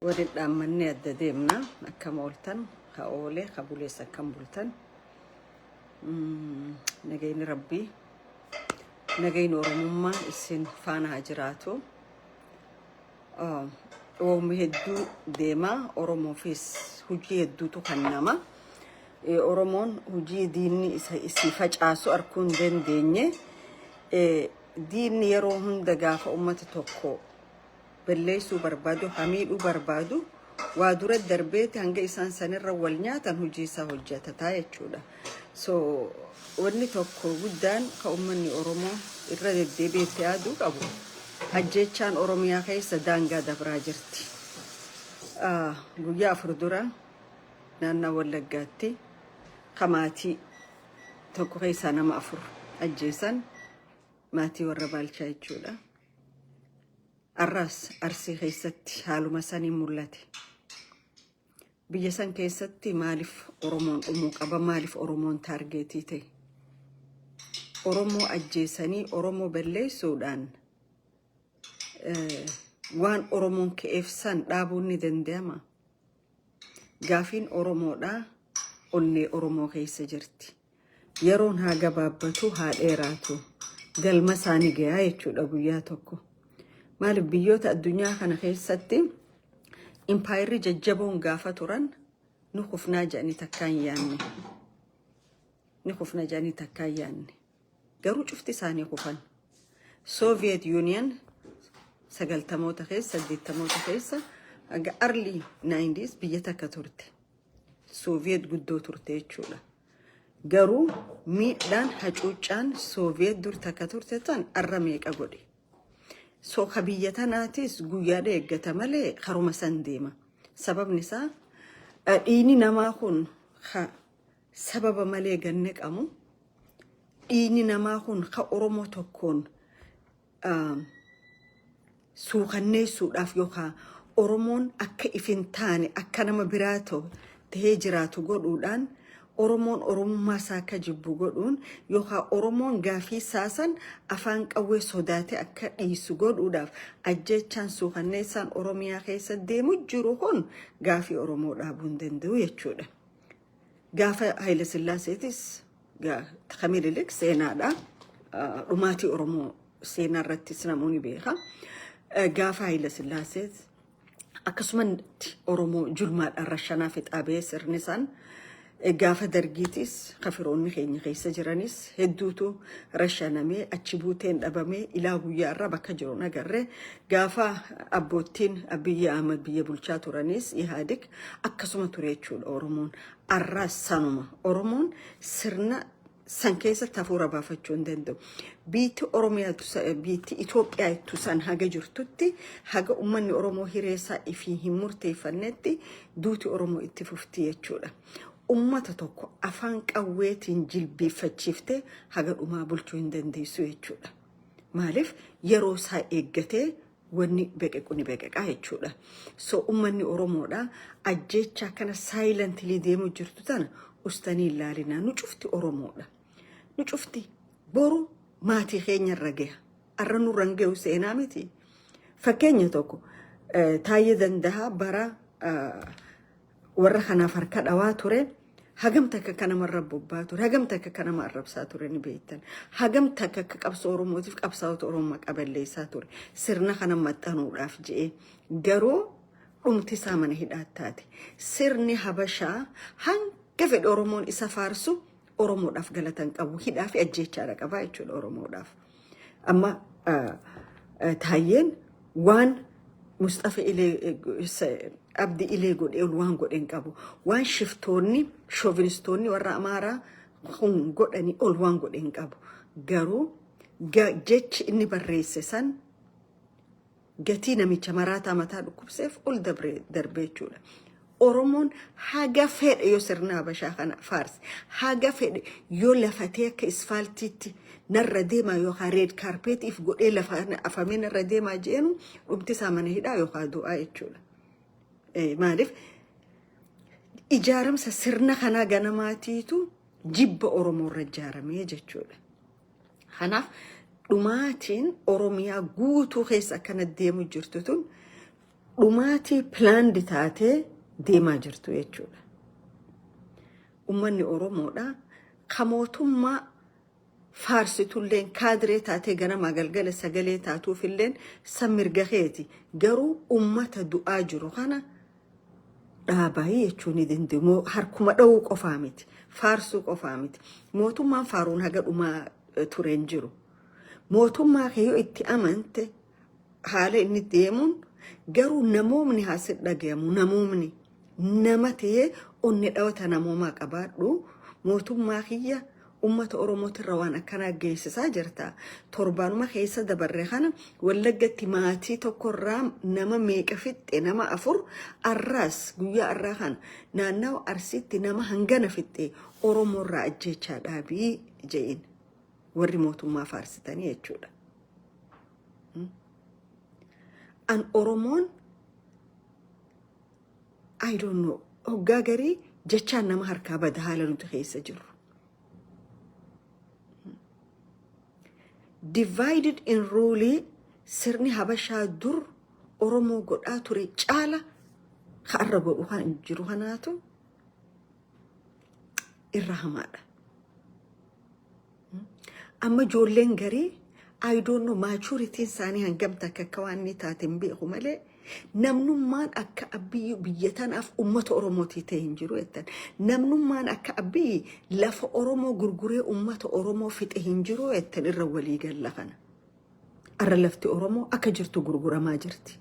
Waliin dhaammannee adda deemna akkam ooltan ka oole ka bulees akkam bultan nagayni rabbii nagayni oromummaa isin faana haa jiraatu oomni hedduu deemaa oromoofis hojii hedduutu kan nama oromoon hojii diinni isa isii facaasu arkuu hin dandeenye diinni yeroo hunda gaafa ummata tokko balleessuu barbaadu, ha miidhuu barbaadu, waa dura darbeeti hanga isaan sanirra wal nyaatan hojii isaa hojjatataa jechuudha. So wanni tokko guddaan ka uummanni Oromoo irra deddeebi'ee itti yaaduu qabu ajjeechaan Oromiyaa keessa daangaa dabraa jirti. Ah, Guyyaa afur dura naannaa Wallaggaatti ka maatii tokko keessaa nama afur ajjeesan maatii warra Baalchaa jechuudha. Har'as Arsii keessatti haaluma saniin mul'ate. Biyya san keessatti maaliif Oromoon dhumuu qaba? Maaliif Oromoon taargeetii ta'e? Oromoo ajjeesanii Oromoo balleessuudhaan waan Oromoon ka'eef san dhaabuun ni danda'ama. Gaafiin Oromoodhaa onnee Oromoo keessa jirti. Yeroon haa gabaabbatu haa dheeraatu galma isaa ni gayaa jechuudha guyyaa tokko. Maaliif biyyoota addunyaa kana keessatti impaayirri jajjaboon gaafa turan ni kufnaa jedhanii takkaa hin yaanne. Ni kufna jedhanii takkaa hin yaanne. Garuu cufti isaanii kufan. Soviet Union sagaltamoota keessa, saddeettamoota keessa hanga early 90s biyya takka turte. Sooviyeet guddoo turte jechuudha. Garuu miidhaan hacuuccaan Sooviyeet dur takka turte tan arra meeqa godhe. So ka biyya tanaatis guyyaadha eeggata malee karuma san deema. Sababni isaa eh, dhiigni namaa kun ka sababa malee ganne qabu dhiigni namaa kun ka Oromoo tokkoon suukanneessuudhaaf yookaan Oromoon akka if hin taane akka nama biraa ta'u ta'ee jiraatu godhuudhaan Oromoon Oromummaa isaa akka jibbu godhuun yookaan Oromoon gaafii isaa san afaan qawwee sodaatee akka dhiisu godhuudhaaf ajjeechaan suukanneessaan Oromiyaa keessa deemu jiru kun gaafii Oromoo dhaabuu hin danda'u jechuudha. Gaafa Hayila Sillaaseetis Takka Minilik seenaadha. Dhumaatii Oromoo seenaa irrattis namoonni beeka. Gaafa Haayila Sillaasee akkasumatti Oromoo julmaadhaan rashanaa fixaa ba'ee sirni isaan gaafa dargiitis kafiroonni keenya keessa jiranis hedduutu rashanamee achi buuteen dhabamee ilaa guyyaa irra bakka jiru nagarre gaafa abboottiin biyya Ahmad biyya bulchaa turanis Ihaadig akkasuma ture jechuudha Oromoon Arraas sanuma Oromoon sirna san keessatti hafuura baafachuu hin danda'u. Biitti Oromiyaatu sa- biitti Itoophiyaa ittu san haga jirtutti haga ummanni Oromoo hireessaa ifii hin murteeffannetti duuti Oromoo itti fufti jechuudha. Ummata tokko afaan qawweetiin jilbiiffachiiftee haga dhumaa bulchuu hin dandeessu jechuudha. Maaliif yeroo isaa eeggatee wanni beqequ ni beqeqaa jechuudha. So ummanni Oromoodha ajjeechaa kana silently deemu jirtu tana ustanii hin laalinaa. Nu cufti Oromoodha. Nu cufti boru maatii keenya irra gaha. Arra nurra hin gahu seenaa miti. Fakkeenya tokko eh, Taayyee Dandahaa bara eh, warra kanaaf harka dhawaa ture hagam takka akka nama irra bobbaa ture hagam takka akka nama arrabsaa ture ni beektan hagam takka akka qabsoo oromootiif qabsaa'ota oromoo maqaa balleessaa ture sirna kana maxxanuudhaaf je'ee garuu dhumti isaa mana hidhaatti taate sirni habashaa hanga fedhe oromoon isa faarsu Oromoodhaaf galata hin qabu. Hidhaa fi ajjeechaadha qabaa jechuudha Oromoodhaaf. Amma ah, ah, taayyeen waan Musxafa Ilee eh, se- Abdi Ilee godhee ol waan godhe hin qabu. Waan shiftoonni, shoovinistoonni warra Amaaraa kun godhanii ol waan godhe hin qabu. Garuu ga- jechi inni barreesse san gatii namicha maraataa mataa dhukkubseef ol dabree darbee jechuudha. Oromoon haga fedhe yoo sirna Habashaa kana faarse, haga fedhe yoo lafatee akka isfaaltiitti narra deemaa yookaan reed kaarpeetiif godhee lafa kana afamee narra deemaa jeenu dhumti isaa mana hidhaa yookaan du'aa jechuudha. Eh, Maaliif ijaaramsa sirna kanaa ganamaatiitu jibba Oromoo irra ijaaramee jechuudha. Kanaaf dhumaatiin Oromiyaa guutuu keessa akkana deemu jirtu tun dhumaatii pilaandi taatee deemaa jirtu jechuudha. Uummanni Oromoodha. Ka mootummaa faarsitulleen kaadiree taatee ganamaa galgala sagalee taatuufilleen san mirga keeti. Garuu uummata du'aa jiru kana dhaabaayii jechuu ni danda'u. Moo harkuma dha'uu qofaa miti. Faarsuu qofaa miti. Mootummaan faaruun haga dhumaa eh, ture hin jiru. Mootummaa kee yoo itti amante haala inni itti deemuun garuu namoomni haa si dhagayamu. Namoomni nama ta'ee onni dhawata namoomaa qabaadhu. Mootummaa kiyya Ummata Oromootirra waan akkanaa geessisaa jirta. Torbaanuma keessa dabarre kana Wallaggatti maatii tokkorraa nama meeqa fixxe nama afur arraas guyyaa arraa kana naannawa Arsiitti nama hangana fixxe Oromoorraa ajjeechaa dhaabii je'in warri mootummaa faarsitanii jechuudha. An Oromoon I don't know. Hoggaa garii jechaan nama harkaa bada haala nuti keessa jirru. Divided in rule sirni habashaa dur Oromoo godhaa ture caala har'a godhu kan jiru kanaatu irra hamaadha. Amma ijoolleen garii I don't know maachuritiin isaanii hangam takka akka waan inni taate hin beeku malee namnummaan akka abbiyyi biyya tanaaf uummata Oromootii ta'e hin jiru jettan. Namnummaan akka abbiyyi lafa Oromoo gurguree uummata Oromoo fixe hin jiru jettan irra walii galla kana. Arra lafti Oromoo akka jirtu gurguramaa jirti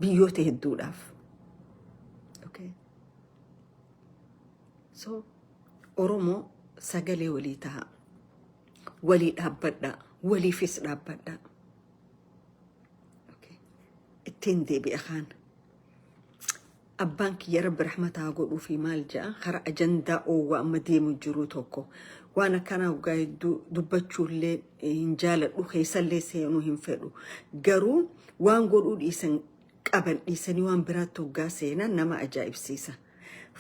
biyyoota hedduudhaaf. So Oromoo sagalee walii tahaa. Walii dhaabbadhaa. Waliifis dhaabbadhaa. Okay. Ittiin deebi'a kaan. Abbaan kiyya rabbi rahmataa godhuu fi maal ja'a kara ajandaa oowwaa amma deemu jiru tokko waan akkanaa waggaa hedduu dubbachuullee hin jaaladhu keessallee seenuu hin fedhu garuu waan godhuu dhiisan qaban dhiisanii waan biraatti hoggaa seenan nama ajaa'ibsiisa.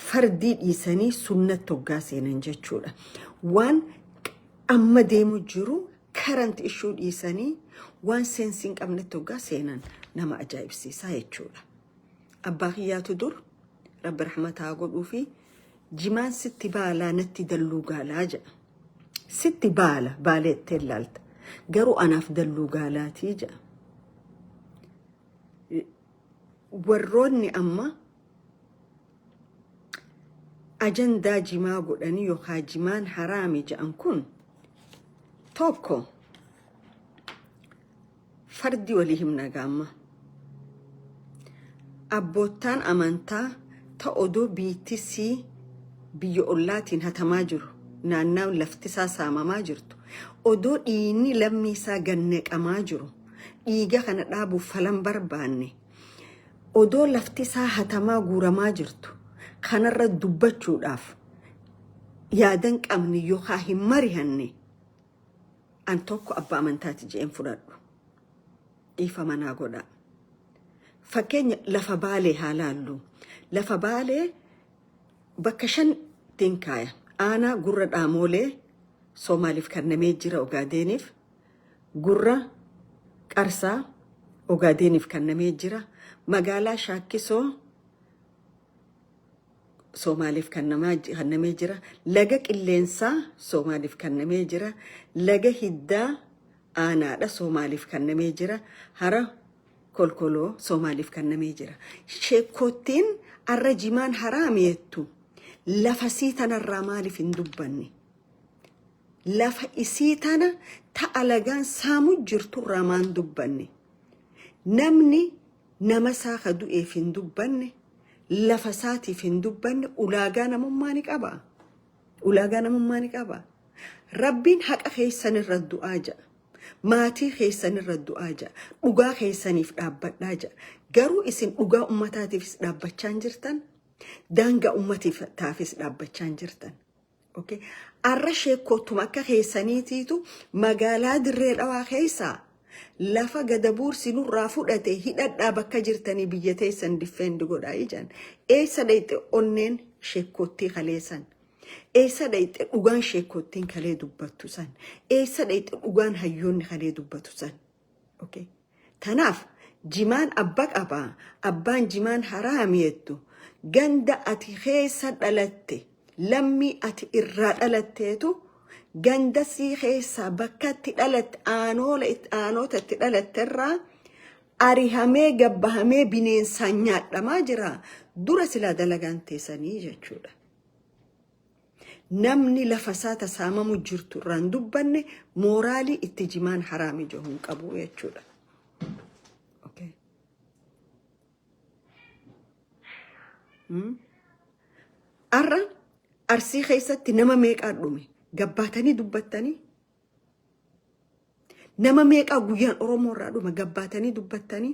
Fardii dhiisanii sunnatti hoggaa seenan jechuudha. Waan amma deemu jiru karanti ishuu dhiisanii waan seensi hin qabnetti hoggaa seenan nama ajaa'ibsiisaa jechuudha. Abbaa kiyyaatu dur rabbi rahmataa godhuu fi jimaan sitti baalaa natti dalluu gaalaa jedha. Sitti baala baalee itti ilaalta. Garuu anaaf dalluu gaalaatii jedha. warroonni amma ajandaa jimaa godhanii yookaan jimaan haraami jedhan kun tokko fardi walii himna gaamma abboottaan amantaa ta odoo biittisii biyya ollaatiin hatamaa jiru naannaan laftisaa saamamaa jirtu odoo dhiinni lammii isaa gannaqamaa jiru dhiiga kana dhaabuuf falan barbaanne odoo lafti isaa hatamaa guuramaa jirtu kanarra dubbachuudhaaf yaadan qabne yookaan hin marihanne an tokko abbaa amantaati je'een fudhadhu dhiifama naa godhaa. Fakkeenya lafa baalee haa laallu. Lafa baalee bakka shantiin kaaya. Aanaa gurra dhaamoolee Soomaaliif kannamee jira Ogaadeeniif Gurra Qarsaa, Ogaadeeniif kannamee jira. Magaalaa Shaakkisoo, Soomaaleef kannamee jira. Laga Qilleensaa, Soomaaliif kannamee jira. Laga Hiddaa, Aanaadha, Soomaaliif kannamee jira. Hara Kolkoloo, Soomaaliif kannamee jira. Sheekkoottiin arra jimaan haraam yettu lafasii tanarraa maaliif hin dubbanne? Lafa isii tana ta alagaan saamu jirtu irraa maan dubbanne? Namni nama isaa ka du'eef hin dubbanne, lafa isaatiif hin dubbanne ulaagaa namummaa ni qabaa? Ulaagaa namummaa ni qabaa? Rabbiin haqa keessan irra du'aa ja'a. Maatii keessan irra du'aa ja'a. Dhugaa keessaniif dhaabbadhaa ja'a. Garuu isin dhugaa ummataatiifis dhaabbachaa hin jirtan. Daangaa ummataafis dhaabbachaa hin jirtan. Okay. Arra sheekkottuma akka keessaniitiitu magaalaa dirree dhawaa keessaa lafa gada buursi nurraa fudhate hidhadhaa bakka jirtanii biyya teessan diffeendi godhaa ijaan. Eessa dhayxe onneen sheekkottii kaleessan. Eessa dhayxe dhugaan sheekkottiin kalee dubbattu san. Eessa dhayxe dhugaan hayyoonni kalee dubbatu san. Okay. Tanaaf jimaan abba qaba abbaan jimaan haraami jettu ganda ati keessa dhalatte lammii ati irraa dhalatteetu ganda sii keessaa bakka itti dhalatte aanoola itti- aanoota itti dhalatte irraa arihamee gabbahamee bineensaan nyaadhamaa jira dura silaa dalagaan teessanii jechuudha. Namni lafa isaa ta saamamu jirtu irraa hin dubbanne mooraalii itti jimaan haraam ija hin qabu jechuudha. Okay. Hmm? Har'a arsii keessatti nama meeqaa dhume gabbaatanii dubbattanii nama meeqaa guyyaan Oromoo irraa dhume gabbaatanii dubbattanii